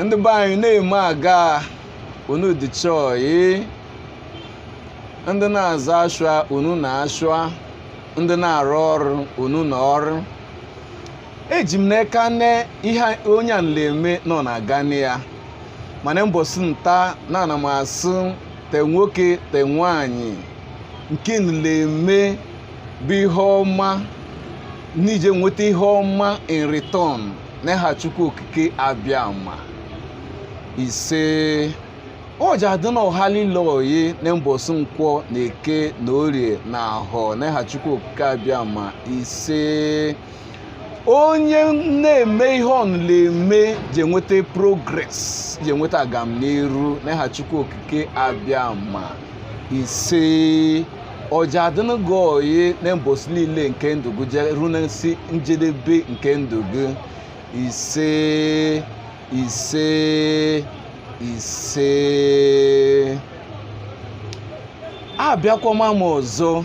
ndị be anyị na-eme aga unu dị chọọyị ndị na-azụ ashụa unu na ashụa ndị na-arụ ọrụ unu na ọrụ eji m n'aka na ihe onye a na-eme na ọ na-aganụ ya mana mbọsị nta na ana m asụ te nwoke te nwaanyị nke na-eme bụ ihe ọma na i je enweta ihe ọma in return n'aha chukwu okike abịama ise ọ ja-adịnụ ọha lile oyi na mbọsị nkwọ na eke na orie na ahọ n'aha chukwu okike abịama ise onye na-eme ihe ọnụla eme ji enweta progress ji enweta agamniru n'aha chukwu okike abịama ise ọ ja-adịnụ gị oyi na mbọsị niile nke ndụ gị jee ruo n'isi njedebe nke ndụ gị ise ise ise abịakwama m ọzọ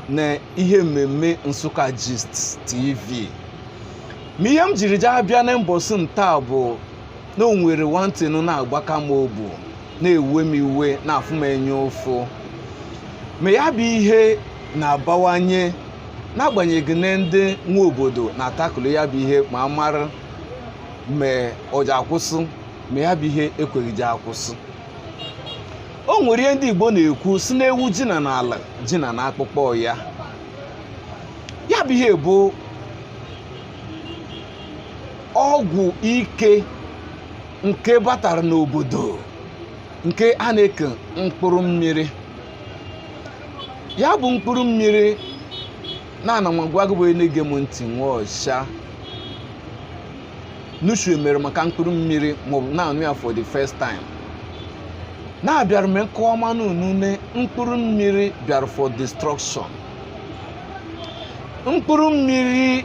na ihe mmemme nsukka gist tv ma ihe m jiri jee abịa na mbọsị nta bụ na o nwere nwantịnụ na-agbaka m obu na-ewe m iwe na-afụ m enya ụfụ ma ya bụ ihe na-abawanye n'agbanyeghị na ndị nwe obodo na-atackle ya bụ ihe ma a mara ma ọ ji akwụsị ma ya bụ ihe ekweghị ji akwụsị o nwere ihe ndị Igbo na-ekwu sị na ewu jina n'ala jina n'akpụkpọ ya ya bụ ihe bụ ọgwụ ike nke batara n'obodo nke a na-eke mkpụrụ mmiri ya bụ mkpụrụ mmiri na ana m agwa gị bụ onye na-ege m ntị nwa ọcha nushue mere maka mkpụrụ mmiri maọbụ na-anụ ya for the first time na abịara m ịkọmanụ unu na mkpụrụ mmiri bịara for destruction mkpụrụ mmiri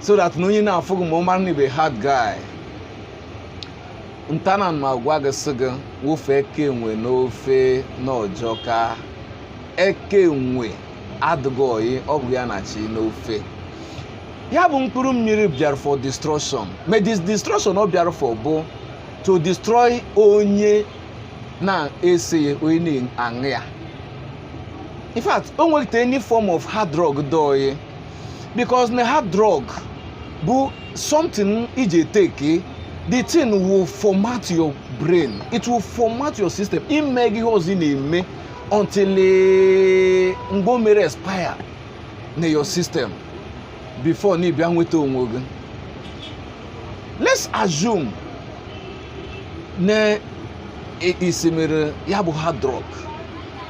so that na onye na-afụ gị ma ọ mara na ị bụ hard guy nta ana m agwa gị sị gị wofu eka enwe n'ofe na ọ jọka eka enwe adịghị oyi ọ bụghị ya na-achị n'ofe ya bụ mkpụrụ mmiri bịara for destruction ma this destruction ọ bịara for bụ to destroy onye na-ese ya onye na-aṅụ ya in fact o nweghị any form of hard drug dị oyi because na hard drug bụ something iji take the thing will format your brain it will format your system ị magị ihe ọzọ ị na-eme until mgbe o mere expire na your system before na ị bịa nweta onwe gị let's assume na i simere ya bụ hard drug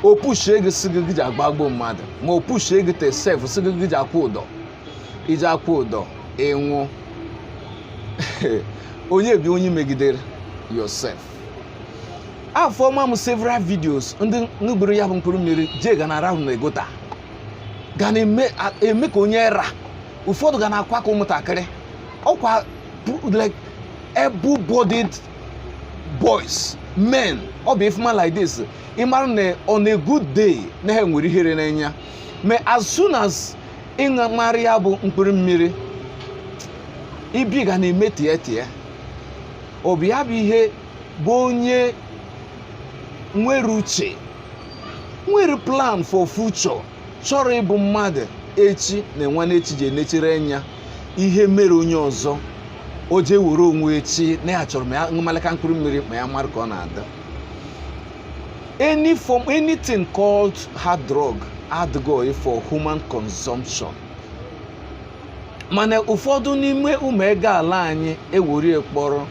o pushie gị sị gị gị ji agbagbuo mmadụ ma o pushie gị te sef sị gị gị ji akwụ ụdọ i ji akwụ ụdọ ị nwụọ onye bụ onye megidere yourself afụọma m several videos ndị ṅụburu ya bụ mkpụrụ mmiri jee ga na-arahụ na gutter ga na-eme a- eme ka onye ara ụfọdụ ga na-akwa ka ụmụntakịrị ọkwa pu- like able-bodied boys men ọ bụ ị fụma like this ị mara na on a good day na ha nwere ihere n'anya ma as soon as ị ṅụmarị ya bụ mkpụrụ mmiri ibi ga na-eme tie tie ọ bụ ya bụ ihe bụ onye nwere uche nwere plan for future chọrọ ịbụ mmadụ echi na nwanne echi ji enechiri anya ihe mere onye ọzọ o jee were onwe echi na ya chọrọ ma ya ṅụmalaka mkpụrụ mmiri ma ya mara ka ọ na-adị anything called hard drug adịghị ọyị for human consumption mana ụfọdụ n'ime ụmụ ego ala anyị ewere kpọrọ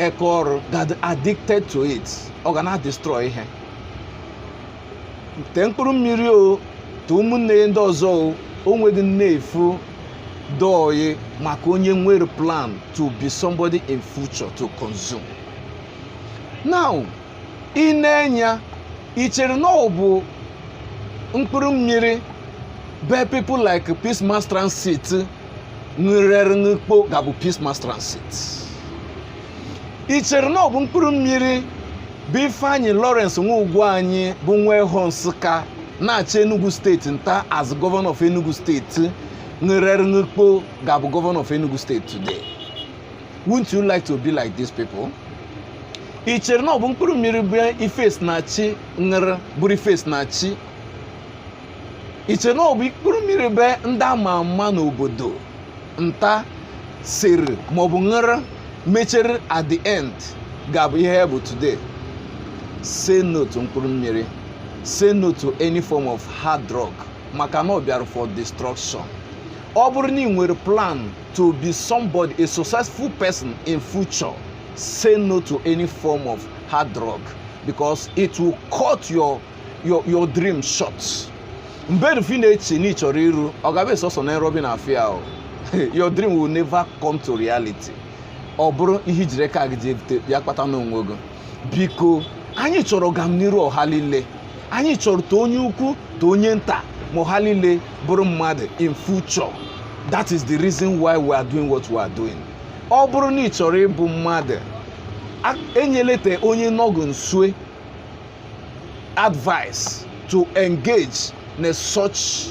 eka ọrụ get addicted to it ọ ga na-destroy ihe tee mkpụrụ mmiri o tee ụmụnne ya ndị ọzọ o nweghị nnefu dị ọyị maka onye nwere plan to be somebody in future to consume now i nee enya i chere na ọ bụ mkpụrụ mmiri bụ people like peace mass transit ṅụrụ ṅụkpọ ga-abụ peace mass transit i chere na ọ bụ mkpụrụ mmiri bụ ifeanyị lawrence nwa Ugwuanyị bụ nwa ehọ nsụka na-achị enugu steeti nta as gọvanọ of enugu steeti ṅụrụ ṅụkpọ ga-abụ gọvanọ of enugu steeti today Wouldn't you like to be like these people? i chere na ọ bụ mkpụrụ mmiri bụ Ifesinachi ṅụrụ bụrụ Ifesinachi i chere na ọ bụ mkpụrụ mmiri bụ ndị ama ama n'obodo nta sere maọbụ ṅụrụ mechere at the end ga-abụ ihe ha bụ today say no to mkpụrụ mmiri say no to any form of hard drug maka na ọ bịara for destruction ọ bụrụ na ị nwere plan to be somebody, a successful person in future, say no to any form of hard drug because it will cut your your your dream short. mgbe rufi na-eche na ị chọrọ iru ọ ga-abụ sọsọ na nrọ bụ ị na-afụ ya o your dream will never come to reality ọ bụrụ ihe i jiri aka gị akpata n'onwe gị biko anyị chọrọ ọganiru ọha niile anyị chọrọ te onye ukwu te onye nta ma ọha niile bụrụ mmadụ in future that is the reason why we are doing what we are doing ọ bụrụ na ị chọrọ ịbụ mmadụ enyelete onye nọ gụ nsue advice to engage na such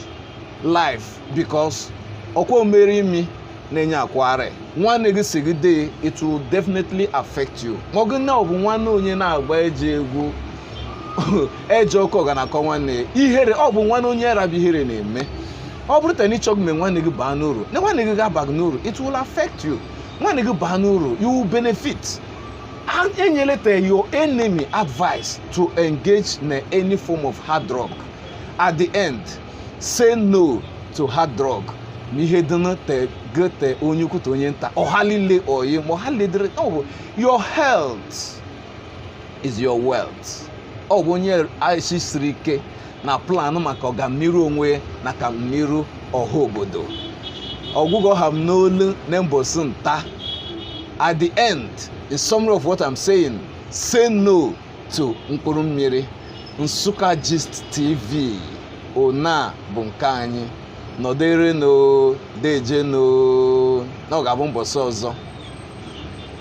life because ọkwa o mere imi na enya akwaharị nwanne gị sigide it will definitely affect you ị magụ na ọ bụ nwanne onye na-agba ejọ egwu ejọ ọkọ ga na-akọ nwanne ya ihere ọ bụ nwanne onye ara bụ ihere na-eme ọ bụrụ te na ị chọghị mee nwanne gị baa n'uru na nwanne gị ga-aba gị n'uru it will affect you nwanne gị baa n'uru you will benefit enyeleta your enemy advice to engage na any form of hard drug at the end say no to hard drug ma ihe dịnụ te gị te onye ukwu te onye nta ọha niile oyi ma ọha niile dịrị ọ bụ your health is your wealth ọ bụ onye ashị siri ike na plan maka ọganiru onwe ya na ọganiru ọha obodo ọ bụ ga ọ ha m n'olu na mbọsị nta at the end the summary of what i'm saying say no to mkpụrụ mmiri Nsukka Gist TV ọna bụ nke anyị nọdịrịnụ dejenụ na ọ ga-abụ mbọsị ọzọ